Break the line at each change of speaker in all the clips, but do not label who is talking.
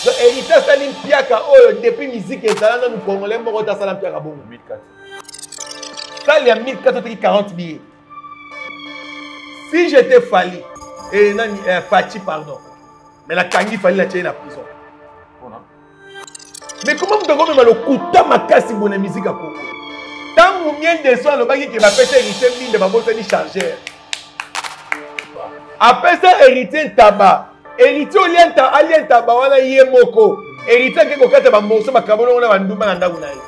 Donc Heritier asali mpiaka oyo depuis musique ezala nanu congolais moko te asala mpiaka bongo. Sali ya 1400 oteki 40 billets. Si j'étais Fally et eh, nani eh, Fatshi pardon. Mais la kangi Fally na tiye na prison. Mais comment moto akomema lokuta makasi boye na musique ya Congo? Ntango mien de soin alobaki ke bapesa Heritier Mbinde babosani chargeur. Apesa Heritier Ntaba Héritier olienta alia ntaba wana ye moko. Héritier ake kokata ba morceaux bakabolongo na bandumba na ndako na ye.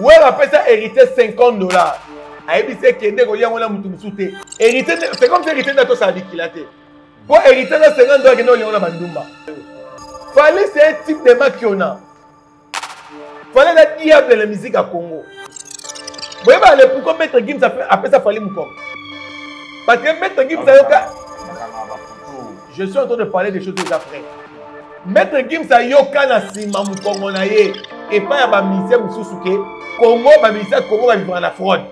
Wera apesa héritier 50 dollars. ayebisi ekende kolia yango na motu mosusu te héritier c'est comme si héritier nde atosala likila te mpo héritier na 50 dollars akende kolia yango na bandumba fali c'est un type de makiona fale na diable na musique ya congo boyeba le pourquoi maître gims apesa fali mokoko parce que maître gims ayoka je suis en train de parler des choses eza vrai maître gims ayoka na nsima mokongo na ye epai ya bamisie mosusu ke congo bamisie ya congo babimaka na fraude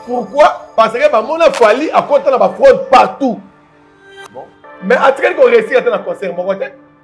pourquoi parce que bamona fali akota na bafraude partout mais atikali koresir ata na concert moko te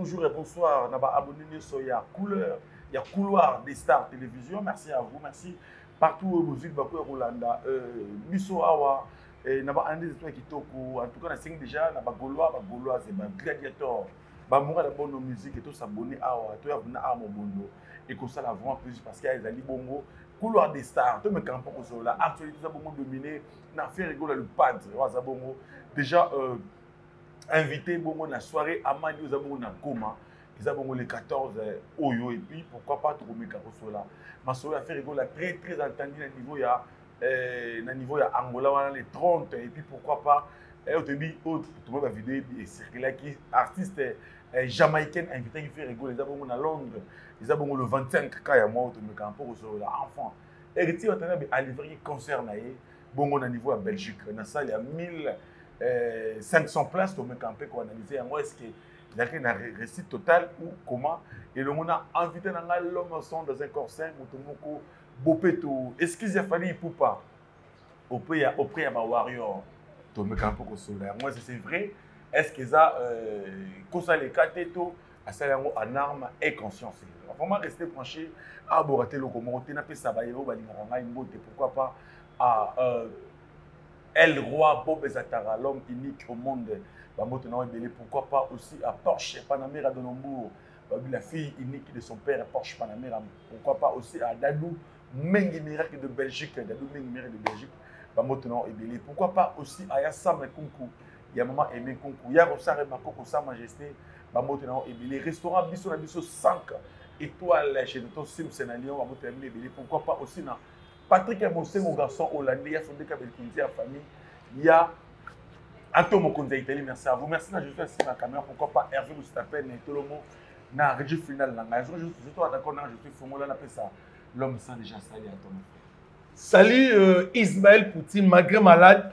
bonjour et bonsoir na baabonné nyonso ya couleur ya couloir des stars télévision merci à vous merci partout oyo bozwili bakoya kolanda euh, biso awa na baanalyse eto ya kitoko en tout cas nasengi déjà na bagaulois bagauloise bagladiator bamboka na bono musique to s'abonner awa to ya kuna awa mobondo ekosala vraiment plus parce que ezali bongo couloir des stars to mekana mpo kozolola actualité eza bongo domine na faire egola le padre oyo aza bongo déjà euh, invité bongo na soirée amadi oyo eza bongo na goma eza bongo le 14 euh, oyo et puis pourquoi pas tokomeka kosolola masolo ya faire egola très très entendu na niveau ya eh, na niveau ya angola wana le 30 et puis pourquoi pas eh, otoyebi oyo oh, tomoni bavideo ecirculaki artiste eh, eh, jamaïcaine invitaki ferregol eza bongo na londres eza bongo le 25 ka ya mwa oyo tomekaka mpo kosolola enfant heritier watanabe alivraki concert na ye bongo na niveau ya belgique na salle ya 1000 euh, 500 places tomeka mpe koanalyse yango est ce que ezalaki na récit total ou comment elongo na invité na ngai l'homme son dans un corps sain moto moko bopeto excuse ya fali ipupa auprès ya auprès ya ba warrior tomeka mpo kosola yango ese c'est vrai est ce que eza euh, kosala eka te to asali yango en arme et conscience vraiment reste branché abora te eloko moko te napesa baye oyo balingaka ngai mbote pourquoi pas à euh, el roi bob ezatara l'homme unique au monde bambote na yango ebele pourquoi pas aussi à porsche panamera de nombourg Babi la fille unique de son père Porsche Panamera. Pourquoi pas aussi à Dadou Mengi Miracle de Belgique. Dadou Mengi Miracle de Belgique. Bamoto non ebele. Pourquoi pas aussi à Yassam Kunku. Ya maman Aimé Kunku. Ya Rosare Makoko Sa Majesté. Bamoto non ebele. Restaurant Bisso na Bisso 5 étoiles chez Tonton Sims na Lyon. Bamoto ebele. Pourquoi pas aussi na Patrick ya Bosengo garçon hollandais ya Sondeka Belkinzi ya famille ya Ato Mokonzi ya Italie merci à vous merci na Josué Sima Kamera pourquoi pas Hervé Lustapen na Tolomo na Regi final na ngai je suis d'accord na je suis fongola na pesa l'homme sans déjà sali à ton Salut
euh, Ismaël Poutine, malgré malade,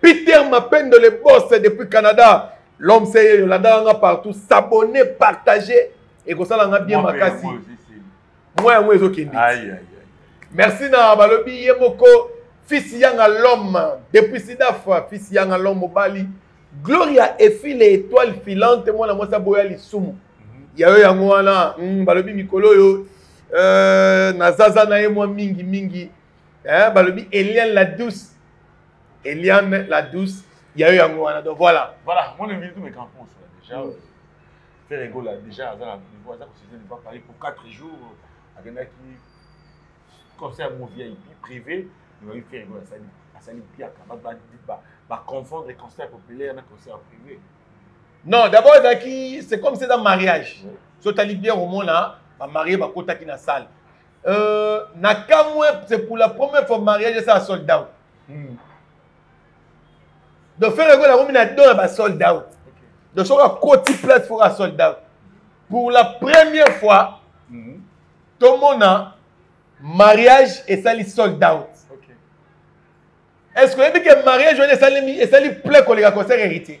Peter Mapendo le boss depuis Canada. L'homme seye Yolanda nga partout. S'abonner, partager et comme ça là nga bien makasi. Moi yango ezo kende. Aïe aïe. Merci na balobi ye moko fils yanga l'homme depuis Sidaf fils yanga l'homme mobali. Gloria efile étoile filante mwana mwasi aboya lisumu. Mhm. Ya yo yango wana mm, balobi mikolo oyo euh, nazaza na ye mwa mingi mingi. Eh, balobi Eliane la douce Eliane la douce ya yo yango wana donc voilà voilà mon invité tout mes
campos déjà mm. Ferre Gola déjà aza na niveau aza kosite ne pas parler pour 4 jours akendaki concert mon VIP privé ebayi Ferre Gola asali asali mpiaka baconfondre concert populaire na concert privé non
d'abord ezalaki c'est comme c'est dans mariage so tali bien omona bamarie bakotaki na salle euh, na kamwe c'est pour la première fois mariage esa sold out hmm. donc fere ekola akomi na don ya basold out donc soki akoti place foko asold out pour la première fois hmm. tomona mariage esali sold out est ce que oyebi ke mariage wana esali esali ple koleka concert héritier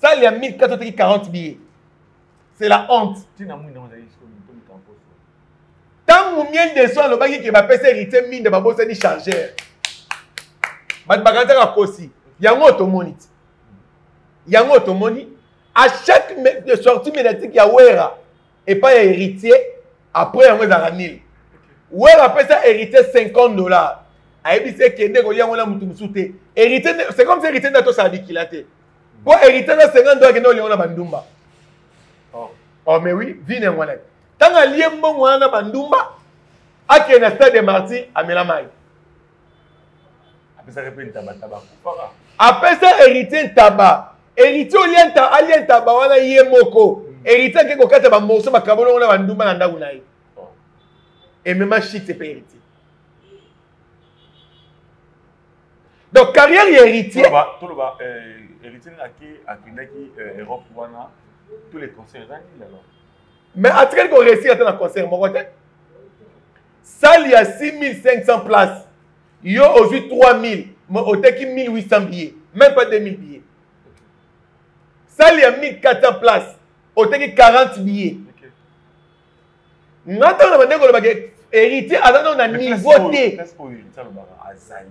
salle ya 1400 oteki 40 billets c'est la honte tina mwinda ozali sikoyo mitomi kamposo ntango miel de soin alobaki ke bapesa héritier minda babosani chargeur bato bakanisaka kosi yango tomoni ti yango tomoni à chaque sortie médiatique ya wera epai ya héritier après yango ezalaka nil wera apesa héritier 50 dollars ayebisi ekende kolia yango na motu mosusu te héritier c'est comme si héritier nde atosala bikila te Bon, héritier na 50 dollars kende olia na bandumba. Oh. Oh mais oui, vine ngwana. Tanga alie mbongo wana na bandumba. Ake na stade de Marty amela mai.
Apesa pe ntaba taba kupaka.
Apesa héritier ntaba. Héritier olia nta alia ntaba wana ye moko. Héritier ake kokata ba morceaux ba kabolo na bandumba na ndaku na ye. Oh. Et même shit c'est pas héritier. donc carrière ya héritier toloba
euh, héritier ake akendaki euh, europe wana tous les concerts ezangi lelo mais
atikali koresir ata na concert moko te sale ya 6500 place yo ozwi 3000 mais oteki 1800 billets même pas 2000 billets sale ya 1400 place oteki 40 billets nga ntango na bandeko olobaka héritier aza nao na niveau te
azali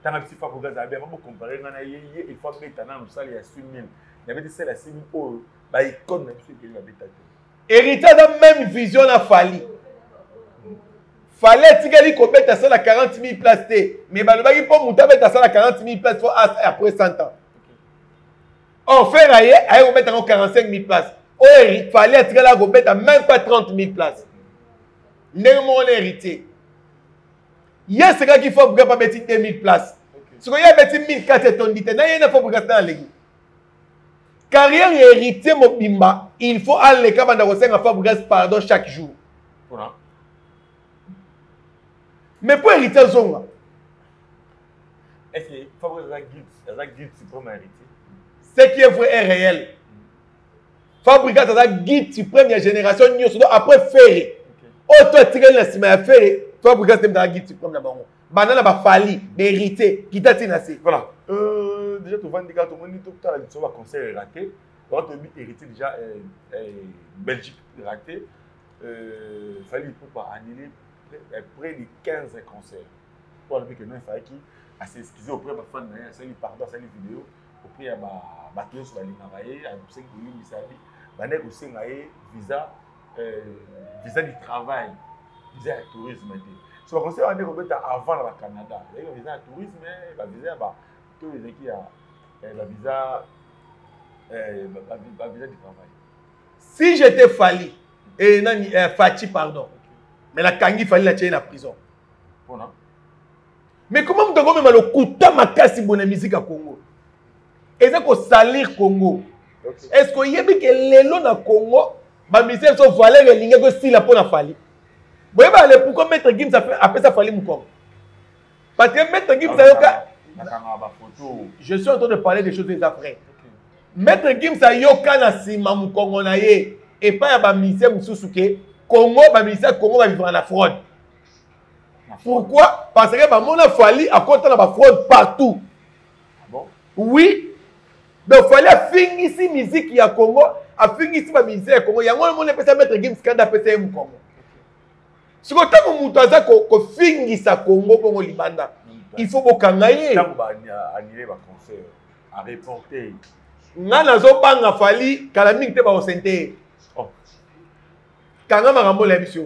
tanga bisi fakoki azala bien babokompare ngai na ye ye ilfo abeta na mosali ya sumim nabeti sele ya simi oyo baikone na biso ebele babeta te héritier aza
même vision na fali fali atikali kobeta asala 40 000 place te mais balobaki mpo moto abeta asala 40 000 place fo après 100 ans or fer aye aye kobeta yango 45 000 place oyo fali atikala akobeta même pas 30 000 place ndenge moko na héritier ye asekaki fo brigade abeti 2000 place sikoyo ye abeti 1400 etondi te na ye na fo brigade na aleki carrière ya héritier mobimba il faut aleka banda kosenga fo brigade pardon chaque jour mais mpo héritier azonga
Est-ce que Fabrice aza guide, aza guide suprême ya héritier? Ce qui est
vrai est réel. Fabrice aza guide suprême ya génération nyonso donc après Ferre. Oyo to atikali na nsima ya Ferre, Fabrice nde aza guide suprême na bango. Banda na ba Fally, ba héritier, kita ti na se. Voilà. Euh,
déjà tovandi kaka tomoni totala liso ba concert raté. Wana toyebi héritier déjà euh, euh, Belgique raté. Euh, Fally Ipupa annulé près, près de 15 concerts. po alobi ke non efalaki ase excuse auprès bafane na ye asali pardon asali video auprès ya bato nyonso balingaka ye asengi kolimbisa ye bandaki kosenga ye visa euh, visa du travail visa ya tourisme te so bakosala bande kobeta avant na bacanada ezalaki bavisa ya tourisme bavisa ya bato ezalaki ya bavisa bavisa du travail si
j'étais fali e nani eh, faci pardon mais nakangi fali na tie na prison pona mais comment moto akomema lokuta makasi boye na miziki ya congo eza kosalir congo est ce que oyebi ke lelo na congo bamisi ya biso valeur elingaki esila mpo na fali boyeba le pourquoi maître gims apesa fali mokongo parce que maître gims ayoka je suis en train de parler des choses eza vrai maître gims ayoka na nsima mokongo na ye epai ya bamisie mosusu ke congo bamisie ya congo bavivaka na fraude pourquoi parce que bamona fali akota na bafraude partout
ah oui
donc fali afingisi miziki ya congo afingisi bamisie ya congo yango omoni epesa maître gims kanda apesa ye mokongo siko ntango moto aza kofingisa congo bongo libanda il faut bokanga ye
ngai
nazobanga fali kala mingi te bakosente ye oh. kanga makambo ola biso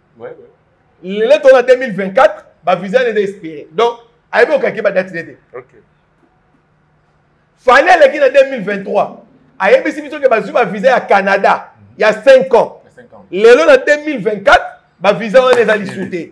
lelo to
na 2024 bavisa nde espere donc ayebi okaki badati nde te fani aleki na 2023 ayebisi biso ke bazwi bavisa ya canada ya 5 ans lelo na 2024 bavisa wana eza lisu te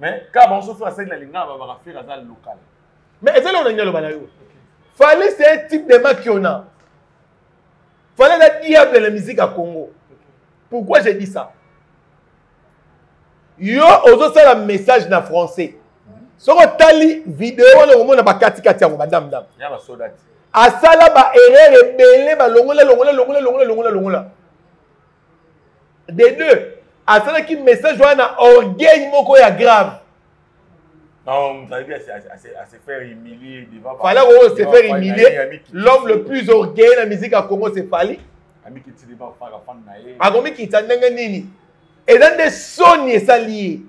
mais kaka
bango so fere asali na lingala babaka fere aza local mais ezali oyo nalingi
aloba na yo fale c'est un type de makiona fale eza diable na musique ya congo pourquoi j'ai dit ça yo ozosala message na français soki otali video wana okomona bakatikati yango badame dame
asala
baerreur ebele balongola longola longola longola longola longola de deux asalaki message wana na orgueil moko ya grave
fala oyo se faire
humilier l'homme le plus orgueilleux na musique ya congo se fali
akomikitisa ndenge
nini eza nde soni esali ye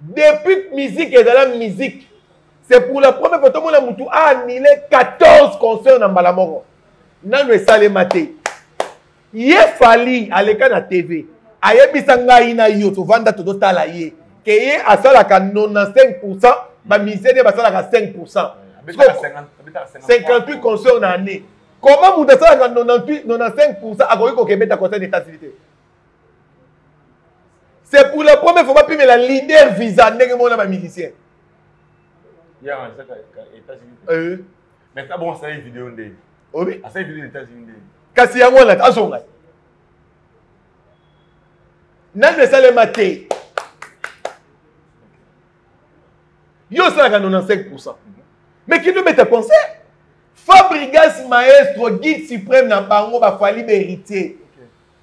Depuis musique ezala musique, c'est pour la première fois tomona mutu a annulé 14 concerts na mbala moko. Nanu esalema te. Ye Fally aleka na TV. Ayebisa ngai na yo tovanda tozotala ye. Ke ye asalaka 95% ba musiciens nde basalaka 5%. 58 concerts na année. Comment mutu asalaka 95% akoki kokebeta concert na Etats-Unis te? c'est pour la première fois bapimela leader visa ndenge moko na bamusicien
euh. kasi yango wana
azonga nani esalema te yo osalaka 95 pourcent mais kino beta concert fabrigas maestro guide suprême na bango bafali baheritier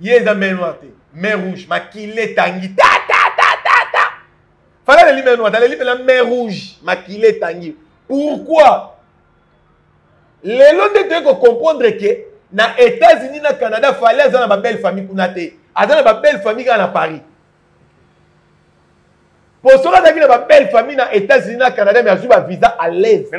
ye
eza mer noir te mer rouge makila etangi ta ta ta ta ta fala aleli mer noir te aleli mpena mer rouge makila etangi pourquoi lelo nde toyei kocomprendre ke na états-unis na canada fale aza na babelle famille kuna te aza na babelle famille kaka na paris po soki azalaki na babelle famille na états-unis na canada me azwi bavisa à l'aise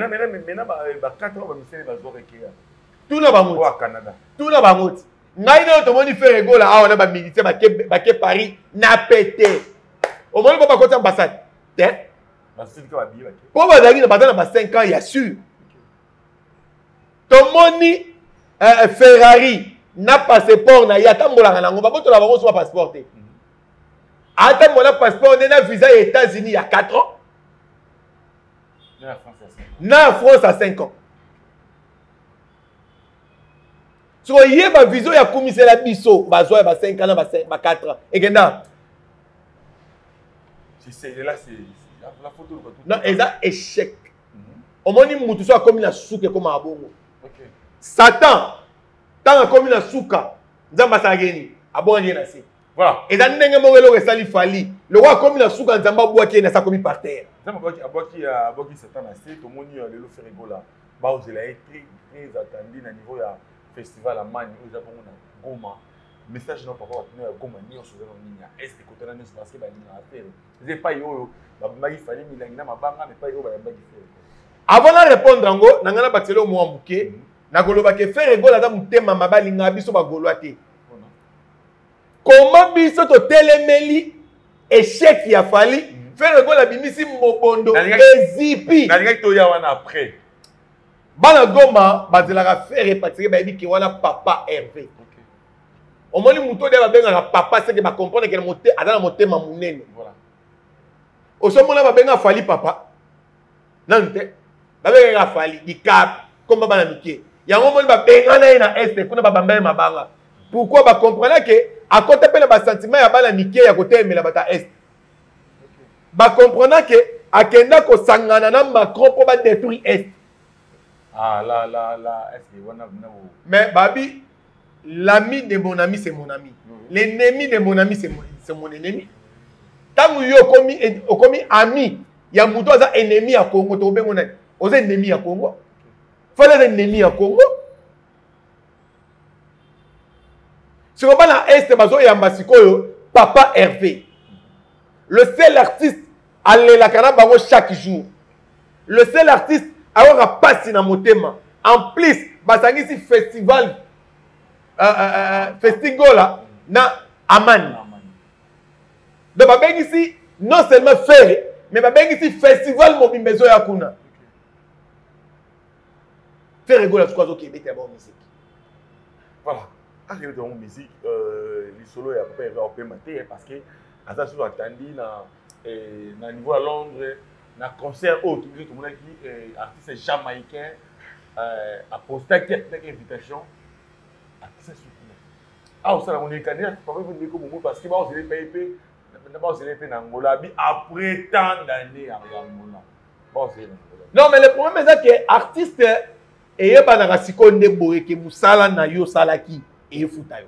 tuna bango oyo akanada
tuna
bango ti
ngai nayo tomoni fere gola awa na bamilitaire bake, bake paris na pete omoni mpo bakoti ambassade te mpo bazalaki baza na ba 5 ans ya sur tomoni eh, eh, ferrari na passeport na ye atambolaka nango babotola bango so bapasseport te mhm. atambola passeport nde na visa ya états-unis ya 4 ans na france ya 5 ans soko ye bavision ya kumisela biso bazwa ya ba 5 ans na ba 4 ans ekenda non
eza
échec mhm. omoni mutu so akomi na suka ekomaka bongo satan ntango akomi na suka nzambe asalaki ye nini abwaki ye na se voilà eza ndenge
moko eloko
esali fali lokola akomi na suka nzambe abwaki ye na se akomi par terre nzambe
abwaki satan na se tomoni lelo feregola baozela ye très très attendu na niveau ya festival ya mani oyo eza bongo na goma message na papa bakino ya goma nyonso eza na nini ya est ekotana nyonso parce que balingaka fere eza epai oyo babimaki fali milangi na mabanga ma epai oyo bayambaki fere avant na
répondre yango na ngai na batelo mwa moke mhm. nakoloba ke fere gola aza motema mabe alingaka biso bagolwa te comment biso totelemeli échec ya fali fere lokola abimisi mobondo ezipi nalingaki toya wana
après bana
goma bazelaka fere patike bayebi ke wana papa herve omoni moto oyo babengaka papa seke bacomprendre ke aza na motema monene osomona babenga fali papa nanu te babengaka fali dicap komba bana mike yango omoni babengana ye na este kuna babamba ye mabanga pourkui bacomprena ke akota mpe na basentiment ya bana mike ya kotelemela bato ya este bacomprena ke akenda kosangana na macron mpo badétruire este ah,
la, la, la. mais babi
l'ami de mon ami c'est mon ami l'ennemi de mon ami c'est mon, mon ennemi ntango yo okomi okomi ami ya moto aza ennemi ya congo tokobengo nani oza ennemi ya congo fali aza ennemi ya congo sikoyo bana este bazoyamba sikoyo papa herve le seul artiste alelaka na bango chaque jour le seul artiste ayokaka mpasi na motema en plus basangisi festival uh, uh, uh, festigola na amani donc babengisi non seulement fere mais babengisi festival mobimba ezoya kuna fere gola suku azoki ebetela bango miziki
voilà akebetela bango miziki lisolo ya papa eva opema te parce que aza susu atandi na eh, na niveau ya londres na concert oyo tobiso tomonaki eh, artiste jamaïcain eh, apostaki atinaki invitation akisa sukuna awa osala yango nekani papa mpe ndeko bongo parce que baozela epai mpe na baozela mpe na angola abi après tant d'année ya angola baozela na angola non mais le problème
eza ke artiste eyebanaka sikoyo nde boye ke mosala na yo osalaki efuta yo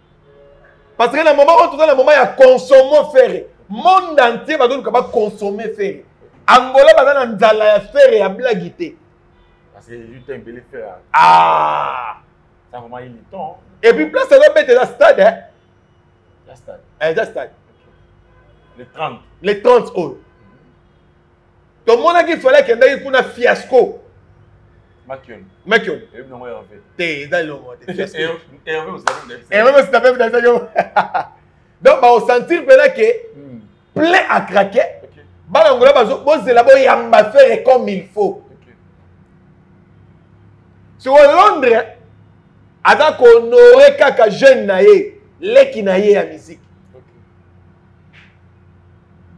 parce que na moment oyo toza na moment ya consomme fere monde entier bazoluka baconsomme fere angola baza na nzala ya fere ya blagi te ah!
et puis place azobeta
eza stade eza
eh,
stade le
30 oyo
tomonaki fale akendaki kuna fiasco
makion makion eyebi
nango herve
te eza elongo te herve
osita mpe bidasaki donc baosentir mpena ke hmm. plein à craquer bana ngola bozela boyamba fere comme il faut sikoyo londres aza kohonore kaka jeune na ye leki na ye ya miziki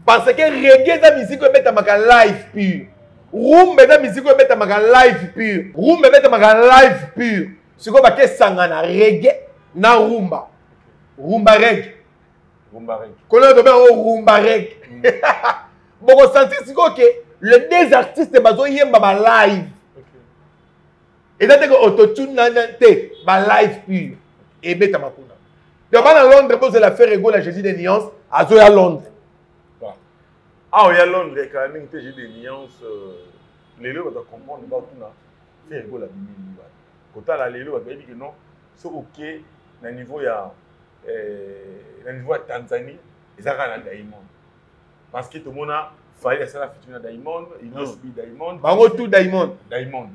parce que reggae eza musique oyo ebetamaka live pure rumba eza musique oyo ebetamaka live pure rumba ebetamaka live pure sikoyo bakesangana reggae na rumba rumba reggae kolelo tobe yango rumba reggae bokosentir sikoyo ke le deux artistes bazoyemba balive eza te ko autotune nana te ba live pure ebetama kuna to bana londres bozela faire egola jésus de nuance azoya londres awa
ah, ya londres kala mingi te jésus de nuance euh, lelo baza comprendre batuna faire egola bimini bana kotala lelo bato bayebi ke non soki oke na niveau ya euh, na niveau ya tanzanie eza kaka na daimond parce que tomona fayel asala fitini na diamond inosbi diamond bango tout diamond
diamond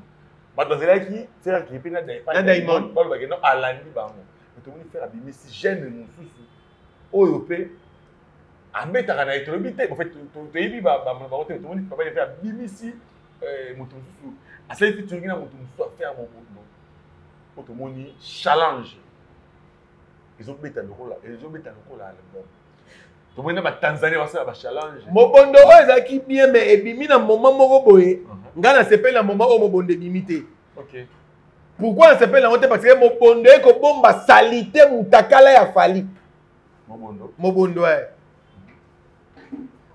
bato bazalaki fere akei mpe na diamond balobaki no alandi bango tomoni fere abimisi gene mosusu oyo mpe abetaka na ye tolobi te bofe toyebi bamono bango te tomoni papa fere abimisi eh, moto mosusu asali fitiringi na moto mosusu afere mobondo mpo tomoni challenge ezobeta lokola ezobeta lokola album tomoni na batanzanie basala bachallenge mobondo oyo ezalaki
bien mai ebimi na moma moko boye mhm. ngai nasepeli na moma oyo mobondo ebimi te
pourkui
nasepeli yango te parce que mobondo ye kobomba salite motakala ya fali
mobondo e eh.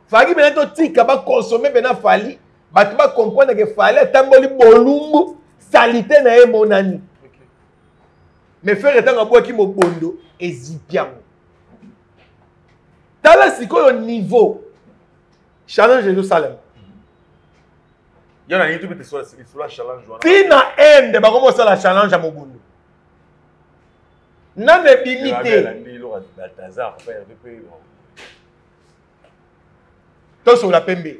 faki mpena totika bakonsome mpena fali bato bacomprendre ke fali atamboli bolumbu salite na ye emonani me fere ntango abwaki mobondo ezipi yango tala sikoyo niveau challenge ezosalema
ntina ende
bakomi kosala challenge ya mobondo nano ebimi te tosola pembe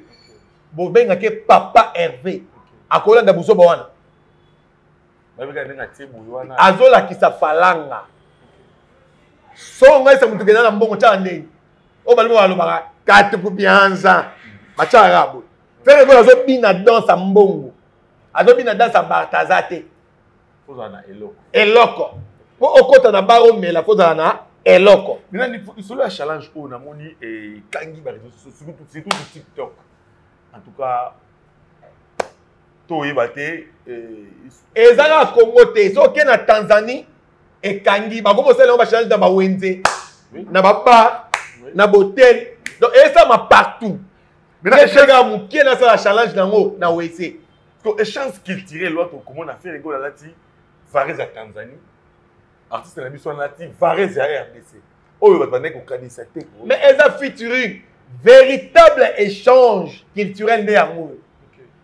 bobengaki papa herve akolanda buzoba wana azolakisa falanga so ngai se motu kenda na mbongo tyaka ndenge oyo balingo balobaka katukupianza batyaka kaka boye fere koyo azobina danse ya mbongo azobina danse ya bartaza te
eloko
mpo okota na bar omela mpo ozala na eloko lisolo ya
challenge oyo namoni ekangi bareseau surtout tiktok en tout cas toyeba te eh, eza
kaka congo te soki na tanzanie ekangi bakomi kosala yango bachange na bawenze na babar na botel donc esalama partout eshega moke nasala challenge na yango na wese to échange
culturel wana tokomona fere gola alati varese ya tanzanie artiste na biso wana ti varese ya rdc oyo bato bandaki kokanisa te mais eza featuring
véritable échange culturel nde yango oyo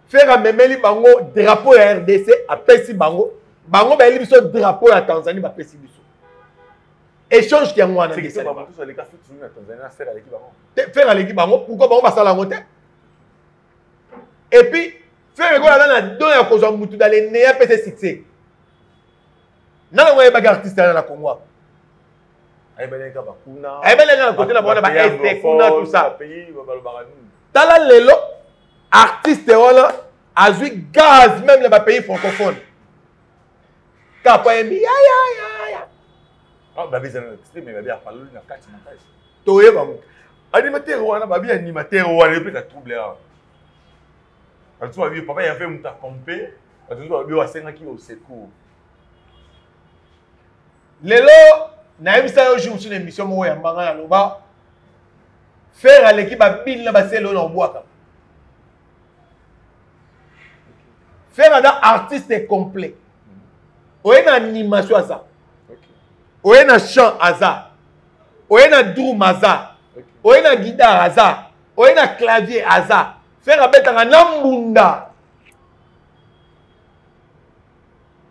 fer amemeli bango drapeau ya rdc apesi bango bango bayeli biso drapeau ya tanzanie bapesi biso échange yango wana
fer aleki bango
pourkoi bango basala yango te epuis fer ekola aza na don ya kozwa motu daleneya pese succès nana ngo ayebaki artiste yana na congo awa
ayebelaki kaka kuna ayebelaki na kote na bana
ba este kuna tout ça
tala lelo
artiste wana azwi gaz même na bapays francophone kapo ayembi yayayaya
ah, toye bango
animateur wana
babi animateur wana epesa trouble awa bato babi papa ya mpe moto akompe bato babi basengaki osecours
lelo nayebisa yo jour mosusu na émission moko ya mbanga na loba fere aleki babini na basele oyo na kobwaka fere aza artiste complet oye na animation aza oye na chant aza oye na drum aza oye na guidare aza oye na clavier aza fere abetaka na mbunda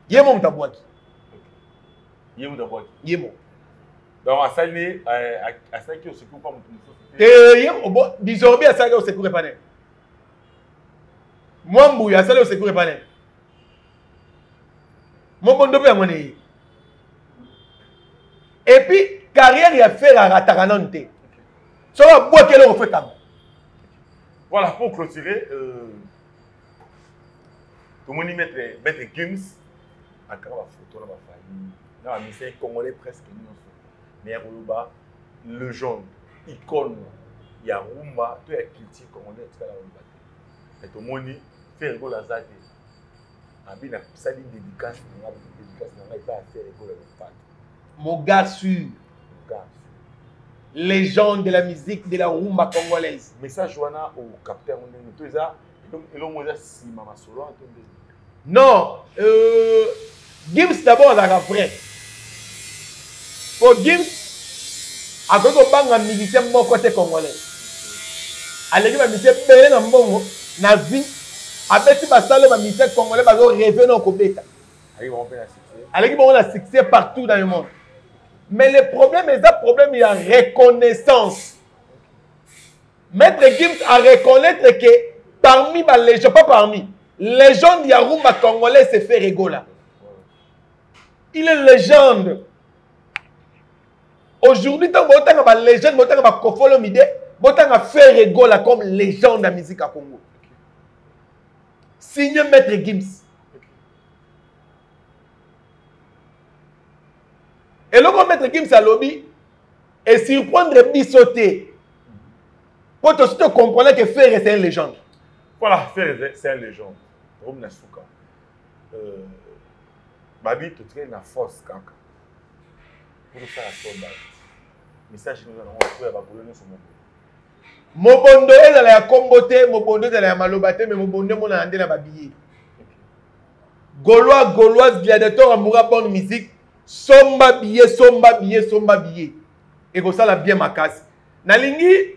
ye mo moto abwaki ye moto abwaki ye mo donc
asali euh, asalaki osecour mpa moto mosusu te ye
disorbi asalaki osecour epa nene mwa mbuya asali osecour epa nene mobondo mpe yango neye epuis carrière ya fere arataka nanu te soki abwaki eloko fo ekango
voilà pour clôturer euh... tomoni maître maître gims akaka bafoto na bafamille na bamisai congolais presque nyonso mais akoloba legende icone ya rumba to ya culture congolais etikala koloba te mais tomoni fere gola aza te abi nasali dédicace na nga dédicace na nga epai ya fere gola lopata mogasu
mogasu légende de la musique de la rumba congolaise message wana
okapte yango ndenge to eza elongo eza nsima masolo wana to
ndenge non euh, gims d'abord azalaka vrai po gims akoki kobanga musicien moko te congolais aleki bamisien ebele na mbongo na vie abeti basalo bamisien congolais bazo reve na okobeta aleki bango na succès partout dans le monde mais le problème eza problème ya reconnaissance Maître Gims a reconnaître que parmi ba légende, pas parmi, légende ya rumba congolais c'est Ferre Gola. Il est légende. Aujourd'hui, ntango botanga ba légende, botanga ba Kofolo Mide, botanga Ferre Gola comme légende ya musique ya Congo. Signé Maître Gims. eloko maître gims alobi esurprendre biso te Quand tu te comprenais que Ferre c'est une légende. Voilà, Ferre
c'est une légende. Comme Nasuka. Euh, Babi, tu tiens la force, Kaka. Pour faire la force, Babi. Message, nous allons faire la colonne sur mon mobondo ezala
ya kombo te mobondo ezala ya maloba te me mobondo emonana nde na babiye golois goloise gladiator amoura bonne musique somba biye somba biye somba biye ekosala bien makasi nalingi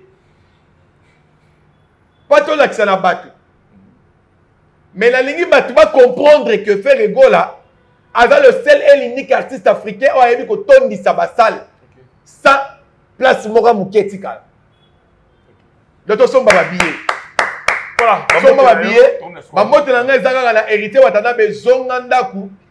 mpo tolakisa na bato mais nalingi bato bacomprendre que ferre gola aza le seul et l'unique artiste africain oyo ayebi kotondisa basale okay. sans place moko ya moke etikala do tosomba babiye voilà, somba babiye bambote na ngai eza kaka na héritier watanabe zonga ndako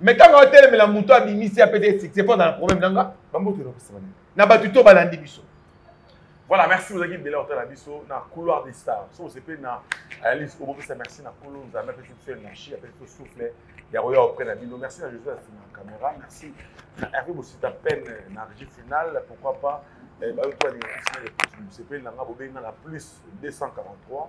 mais ntango aotelemela moto abimisi apesa ye succès mpo azala problème na nga bamboto elokosema nini na bato to balandi biso voilà
merci ozalaki ebele otala biso na couloir des stars so ose mpe na alice obopesa merci na kolo nzambe apesi biso energie apesi biso souffle ya koya auprès na bino merci na joseph na caméra merci na herve bosita peine na régie finale pourquoi pas eh, bayoki balinga kosina epesi mosepeli na nga bobengi nga na plus 243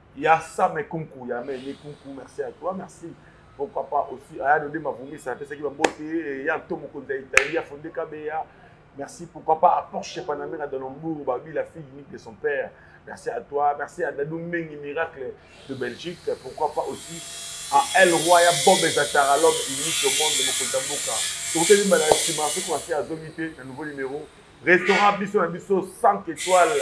ya same kunku ya meme kunku merci à toi merci pourquoi pas aussi aya dode mavumisa apesaki bambote eh, ya nto mokonzi ya italie ya fonde kabeya merci pourquoi pas à porsche panamera dans lombourg babi la fille unique de son père merci à toi merci à dadou mengi miracle de belgique pourquoi pas aussi à el roi ya bob ezatara l'homme unique au monde mokonzi ya mboka tokoteli mbala ya nsima soki wasi azongi te na nouveau numéro restaurant biso na biso 5 étoiles